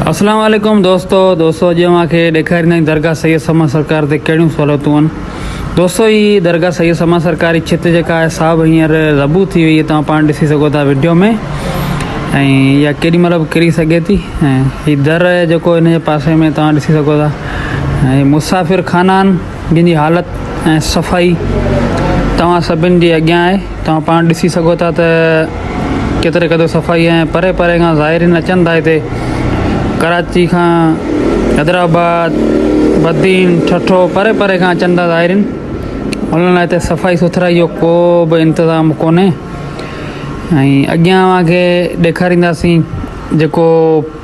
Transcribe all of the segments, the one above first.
اسلام عليڪم دوستو دوستو اڄ اوهان کي ڏيکاريندا آهيون درگاهه سيد سما سرڪار تي ڪهڙيون سهولتون آهن دوستو هي درگاهه سيد سما سرڪار جي ڇت جيڪا آهي سا به هينئر ربو ٿي وئي توهان پاڻ ڏسي سگهو ٿا ويڊيو ۾ ۽ اها ڪيڏي مهل به ڪري سگهي ٿي ۽ هي در جيڪو هن جي پاسي ۾ توهان ڏسي سگهو ٿا ۽ مسافر خانا آهن جن جي حالت ۽ صفائي توهان سڀني جي اڳيان آهي توهان پاڻ ڏسي سگهو ٿا ته ڪيتري قدر صفائي ۽ پري پري کان زائرين اچن ٿا هتي ڪراچي کان حيدرآباد بدين ٺٺو پري پري کان اچن ٿا زائرين انهن لاء هتي صفائي سٿرائي جو ڪو به انتظام ڪونهي ۽ اڳيان اوهان کي ڏيکارينداسين جيڪو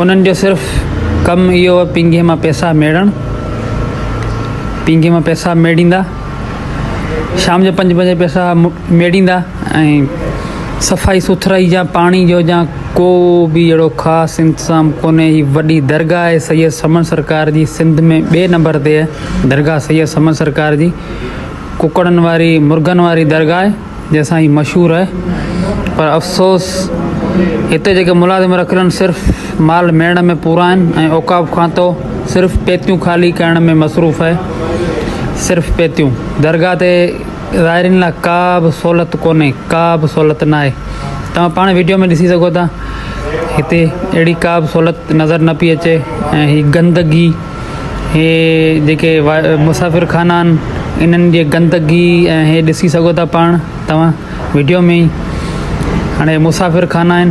انهن جو صرف ڪم اهو هو پينگهي مان پيسا ميڙڻ پينگهي مان پيسا ميڙيندا شام جو پنج بجي پيسا ميڙيندا ۽ صفائي سٿرائي جا پاڻي جو جا ڪو به اهڙو خاص انتظام ڪونهي هي وڏي درگاهه آهي سيد سمن سرڪار جي سنڌ ۾ ٻئي نمبر تي درگاهه سيد سمن سرڪار جي ڪڪڙن واري مرغن واري درگاهه جنهن سان هي مشهور آهي پر افسوس هتي جيڪي ملازم رکيل آهن صرف مال ميڙڻ ۾ پورا آهن ۽ اوقاف کاتو صرف پيتيون خالي ڪرڻ ۾ مصروف آهي صرف پيتيون درگاهه تي زائرين لاء ڪا به سهولت ڪونهي ڪا به سهولت ناهي توهان پاڻ ويڊيو ۾ ڏسي سگهو ٿا هتي اهڙي ڪا به سهولت نظر نه پئي اچي ۽ هي گندگي هي جيڪي مسافر خانا آهن انهن جي گندگي ۽ هي ڏسي سگهو ٿا پاڻ توهان ويڊيو ۾ هاڻي مسافر خانا آهن